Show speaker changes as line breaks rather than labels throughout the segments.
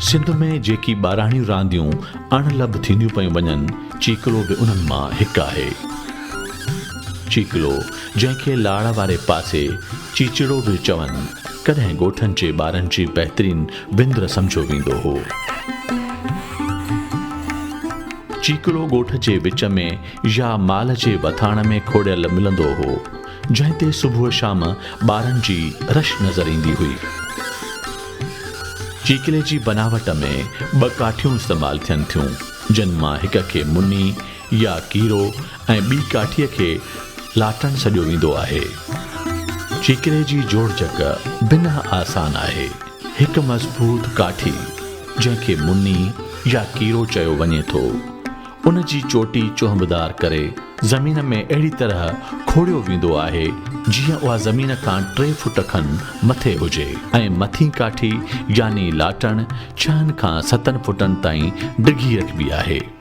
سنڌ ۾ جيڪي ٻاراڻيون رانديون اڻ لڀ ٿينديون پيون وڃن چيڪلو به انهن مان هڪ آهي چيڪلو جنهن کي لاڙ واري پاسي چيچڙو به چون ڪڏهن ڳوٺن جي ٻارن جي بهترين وندر سمجهيو ويندو هو. چيڪڙو ڳوٺ جي وچ ۾ يا مال جي وٿاڻ ۾ کوڙيل ملندو هو، جنهن تي صبح شام ٻارن جي رش نظر ايندي هئي. چيڪلي جي بناوٽ ۾ ٻه ڪاٺيون استعمال ٿين ٿيون، جن مان هڪ کي مني يا ڪيرو ۽ ٻي ڪاٺيء کي لاٽڻ سڏيو ويندو آهي. چيڪري جي جوڙجڪ بنهه آسان آهي. هڪ مضبوط ڪاٺي، جنهن کي مني يا ڪيرو چيو وڃي ٿو، ان جي چوٽي چهنبدار ڪري زمين ۾ اهڙي طرح کوڙيو ويندو آهي، جيئن اها زمين کان ٽي فوٽ کن مٿي هجي ۽ مٿين ڪاٺي يعني لاٽڻ ڇهن کان ستن فوٽن تائين ڊگهي رکبي آهي.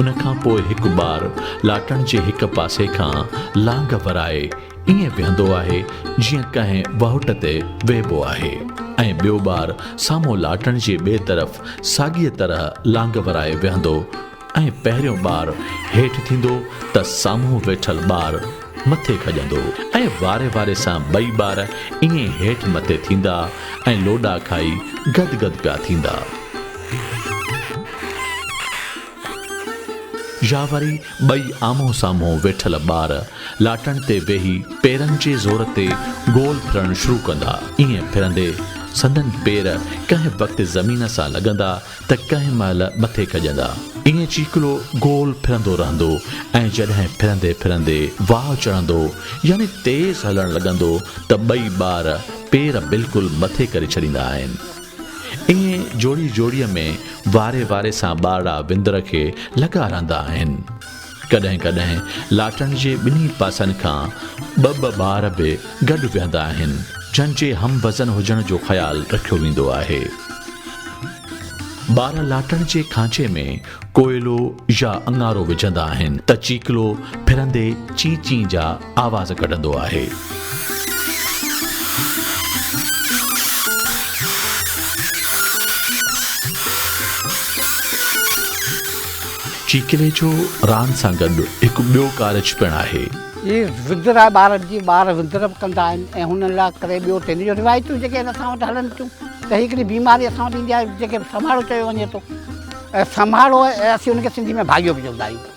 ان کان پوء هڪ ٻار لاٽڻ جي هڪ پاسي کان لانگهه ورائي ائين ويهندو آهي جيئن ڪنهن واهٽ تي ويهبو آهي ۽ ٻيو ٻار سامهون لاٽڻ جي ٻئي طرف ساڳيء طرح لانگهه ورائي ويهندو ۽ پهريون ٻار هيٺ ٿيندو ته سامهون ويٺل ٻار مٿي کڄندو ۽ واري واري سان ٻئي ٻار ائين هيٺ مٿي ٿيندا ۽ لوڏا کائي گد گد پيا ٿيندا. يا وري ٻئي آمهون سامهون ويٺل ٻار لاٽڻ تي ويهي پيرن جي زور تي گول ڦرڻ شروع ڪندا. ائين ڦرندي سندن پير ڪنهن وقت زمين سان لڳندا ته ڪنهن مهل مٿي کڄندا. ائين چيڪلو گول ڦرندو رهندو ۽ جڏهن ڦرندي ڦرندي واهه چڙهندو يعني تيز هلڻ لڳندو ته ٻئي ٻار پير بلڪل مٿي ڪري ڇڏيندا آهن. ائين جوڙي جوڙيء ۾ واري واري سان ٻارڙا وندر کي لڳا رهندا آهن. ڪڏهن ڪڏهن لاٽڻ جي ٻنهي پاسن کان ٻه ٻه ٻار به گڏ ويهندا آهن، جن جي هم وزن هجڻ جو خيال رکيو ويندو آهي. ٻار لاٽڻ جي کانچي ۾ ڪوئلو يا اڱارو وجهندا آهن ته چيڪلو ڦرندي چين چين جا آواز ڪڍندو آهي. چيڪليچو راند سان گڏ هڪ ٻيو ڪارج پڻ آهي. هي وندر
آهي ٻارن جي، ٻار وندر به ڪندا آهن ۽ هنن لاء ڪري ٻيو ٽين جو روايتون جيڪي هن اسان وٽ هلن ٿيون ته هي هڪڙي بيماري اسان وٽ ايندي آهي جنهن کي سمهاڙو چيو وڃي ٿو ۽ سمهاڙو اسين ان کي سنڌي ۾ ڀاڳيو به چوندا آهيون.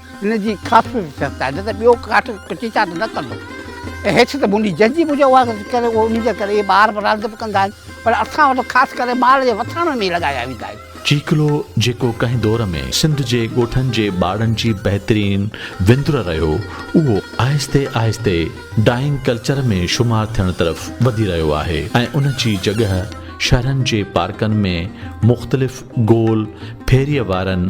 ان جي ڪافي به شرط آهي نه ته ٻيو ڪاٺ ڪچي چاٽ نه ڪندو ۽ هيٺ ته منڊي جنهنجي منهنجي اها ڪري اهو ان جي ڪري ٻار به راند به ڪندا آهن پر اسان وٽ خاص ڪري مال جي وٿاڻن ۾ ئي لڳايا ويندا آهن. چيڪلو جيڪو
ڪنهن دور ۾ سنڌ جي ڳوٺن جي ٻارڙن جي بهترين وندر رهيو اهو آهستي آهستي ڊائنگ ڪلچر ۾ شمار ٿيڻ طرف وڌي رهيو آهي ۽ ان جي جڳهه شهرن جي پارڪن ۾ مختلف گول ڦيريء وارن